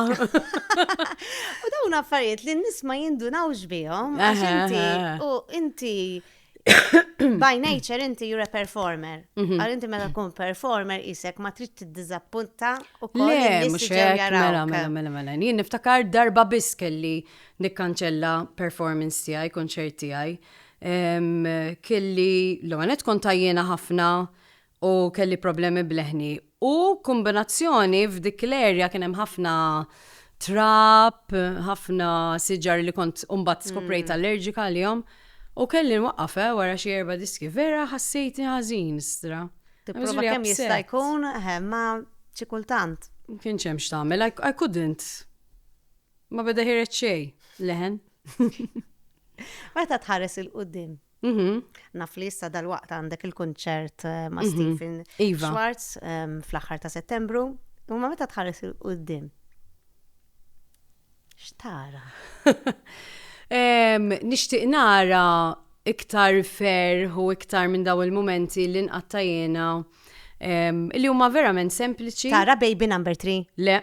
U dawn affarijiet li n-nis ma jindunawx bihom, għax inti, u inti, by nature inti you're a performer. Mhm. Għal inti meta kun performer isek ma trid tiddizappunta u koll. Le, mux mela, mela, mela, mela, mela. Jien niftakar darba biss kelli nikkanċella performance tiegħi, konċert tiegħi. Kelli, l-għanet kontajjena ħafna. ħafna u kelli problemi b'leħni u kombinazzjoni f'dik l-erja kien hemm ħafna trab, ħafna siġar li kont mbagħad skoprejt mm. allerġika għalihom u kelli nwaqqaf eh, wara xi erba' diski vera ħassejtni ħażin stra. Tipprova kemm jista' jkun eh, ma xi kultant. Kien hemm x'tagħmel, I couldn't. Ma beda ħiret xejn, leħen. Meta tħares il-qudiem, Mhm. Naf li issa dal-waqt għandek il-kunċert eh, ma' mhm. Stephen iva. Schwartz ehm, fl-aħħar ta' Settembru. U ma meta tħares il-qudiem? X'tara? Ehm, nixtieq nara iktar ferħ u iktar minn daw il-momenti li nqattajena Ehm, li huma verament sempliċi. Tara baby number 3? Le.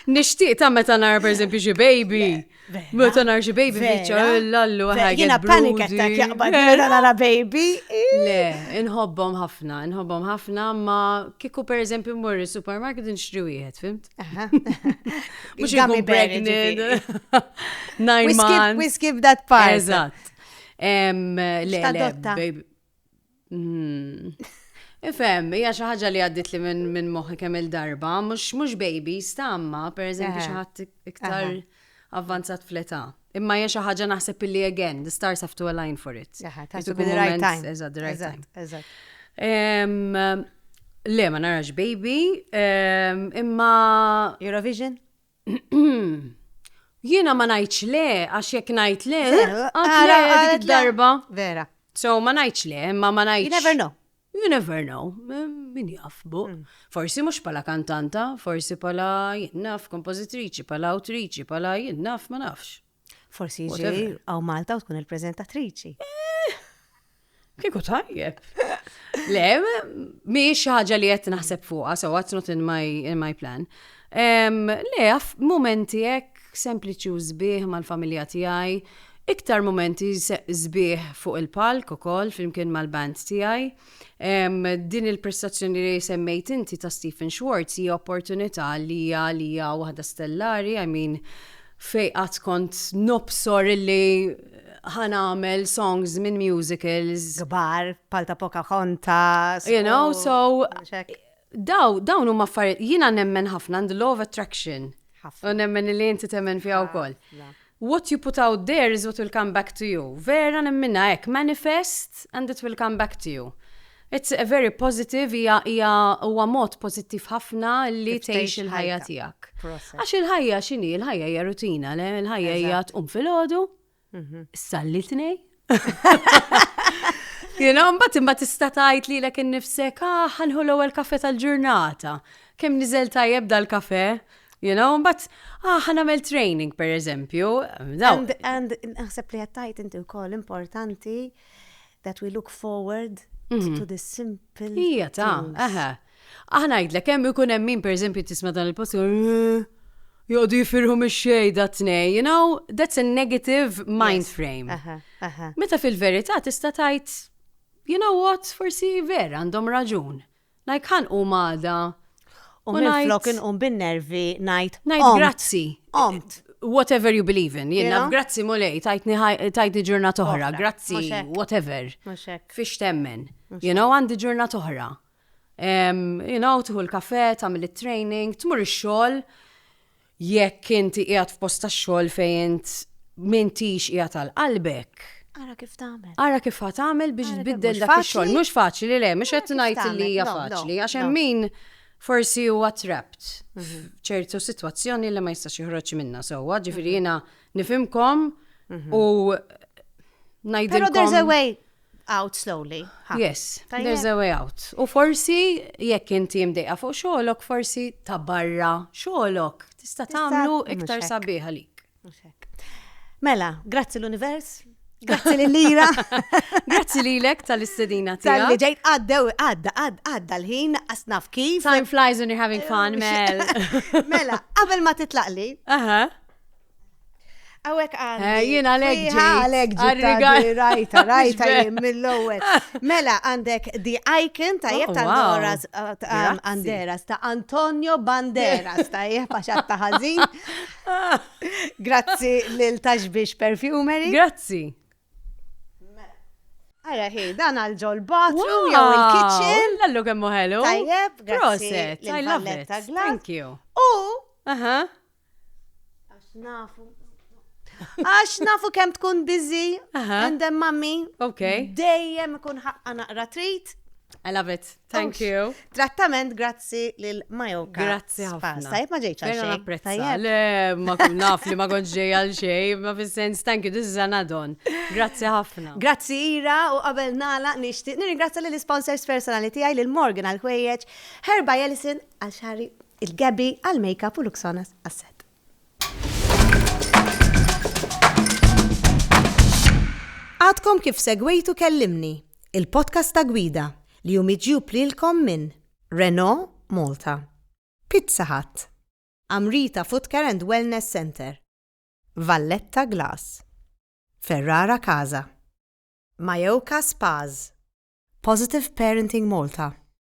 Nixtieq ta' meta nara pereżempju xi baby. Meta nara xi baby biċċa l-allu ħajja. Jiena panika ta' jaqbad meta nara baby. Le, inħobbhom ħafna, inħobbhom ħafna ma kieku pereżempju mmur is-supermarket nixtri wieħed, fimt? Mhux ikun pregnant. Nine months. We skip that part. Eżatt. Le, le, baby. Hmm. Ifem, hija xi ħaġa li għaddit li minn min moħħi kemm il-darba, mhux mhux baby, stamma, per eżempju xi ħadd iktar avvanzat fl-età. Imma hija xi ħaġa naħseb illi again, the stars have to align for it. Tassu bil right time. Eżatt, the right time. Eżatt. Le, ma narax baby, imma. Eurovision? Jiena ma ngħidx le, għax jekk ngħid le, għara dik darba. Vera. So ma ngħidx le, ma ma ngħidx. You never know. You never know. Min jafbu. Mm. Forsi mhux pala kantanta, forsi pala jinnaf kompożitriċi, pala awtriċi, pala jinnaf ma nafx. Forsi jiġi għaw Malta u tkun il-prezentatriċi. Eh, Kiku tajjeb. Le, miex ħaġa li qed naħseb fuqha, so what's not in my, in my plan. Um, le, momenti hekk sempliċi u zbieħ mal-familja tiegħi, iktar momenti zbieħ fuq il-palk ukoll flimkien mal-band tiegħi. Din il-prestazzjoni li semmejt inti ta' Stephen Schwartz hija opportunità li hija li hija waħda stellari, I mean, fej qatt kont nobsor li ħanamel songs minn musicals. Gbar, palta poka konta. You know, so. Daw, dawn huma affarijiet, jiena nemmen ħafna għand law of attraction. U nemmen li inti temmen fiha wkoll. What you put out there is what will come back to you. Vera nemminha hekk, manifest and it will come back to you. It's a very positive, hija hija huwa mod pożittiv ħafna li tgħix il-ħajja tiegħek. Għax il-ħajja x'inhi? Il-ħajja hija rutina, le? Il-ħajja hija tqum filgħodu, Mhm. Sallitni? Jena, mbatt imbat tista tajt li l-ek nifsek, ah, ħanħu l-ewel kafe tal-ġurnata. Kem nizel tajjeb dal-kafe? You know, but, ah, ħanamel training, per eżempju. And, and, naħseb li għattajt inti u koll importanti that we look forward mhm. to the simple. Ija ta', aha. Aħ ngħidlek hemm ikun hemm min pereżempju tisma' dan il-post joqogħdu jifirħu mix-xejn dat-tnejn, you know, that's a negative mind frame. Meta fil-verità tista' tgħid, you know what, forsi vera għandhom raġun. Like ħa nqum għada. U minflok inqum bin-nervi ngħid. Ngħid grazzi. Qomt. Whatever you believe in, jiena grazzi mulej, tajtni ġurnat oħra, grazzi, whatever. Fiex temmen. You know, għandi ġurnat oħra. You know, tieħu l-kafè, tagħmel it-training, tmur ix-xogħol jekk inti qiegħed f'post tax-xogħol fejn int m'intix qiegħed għal qalbek. Ara kif tagħmel. Ara kif ħa tagħmel biex tbiddel dak ix-xogħol. Mhux faċli le, mhux qed ngħid li hija faċli għax hemm min forsi huwa trapped mhm. f'ċertu sitwazzjoni li ma jistax joħroġ minnha sewwa, ġifieri mhm. jiena nifimkom mhm. u ngħidilkom. Pero there's a way. out slowly. Yes, there's a way out. U forsi jekk inti mdejqa fuq xogħolok, forsi ta' barra xogħolok tista' tagħmlu iktar sabiħ għalik. Mela, grazzi l-univers, Grazzi li lira. Grazzi li lek tal-istedina tija. Tal-li ġejt għaddew, għadda, għadda l-ħin, asnaf kif. Time flies when you're having fun, Mel. Mela, qabel ma titlaqli. Aha. Għawek għandi. Eh, jien għalek ġi. Għalek ġi. Rajta, rajta jien mill-ewel. Mela għandek The Icon ta' jek oh, ta' Doras Banderas, um, ta' Antonio Banderas ta' jek paċat ta' ħazin. Grazzi lil Taxbix Perfumery. Grazzi. Għara hi, dan għal ġol bathroom jew il-kitchen. Lallu kemmu ħelu. Tajjeb, grazzi. Proset, I love it. Thank you. U, Għax nafu. Għax nafu kem tkun busy, and then mummy, dejjem ikun ħaqqa naqra treat. I love it. Thank you. Trattament grazzi lil Majoka. Grazzi ħafna. Tajb ma ġejċa xejn. Napprezza. Le, ma kun naf li ma konġ ġej għal xejn, ma fis-sens thank you, this is an add-on. Grazzi ħafna. Grazzi Ira u qabel nala nixtieq nirringrazzja lil sponsors personali tiegħi lil Morgan għal ħwejjeġ, Herba Jelison għal xari Il-Gabby għall-makeup u Luxonas għas-set. Għadkom kif segwejtu Kellimni, il-podcast ta' gwida li hu miġjub lilkom minn Renault Malta, Pizza Hut, Amrita Footcare and Wellness Centre, Valletta Glass, Ferrara Casa, Majoka Spas, Positive Parenting Malta,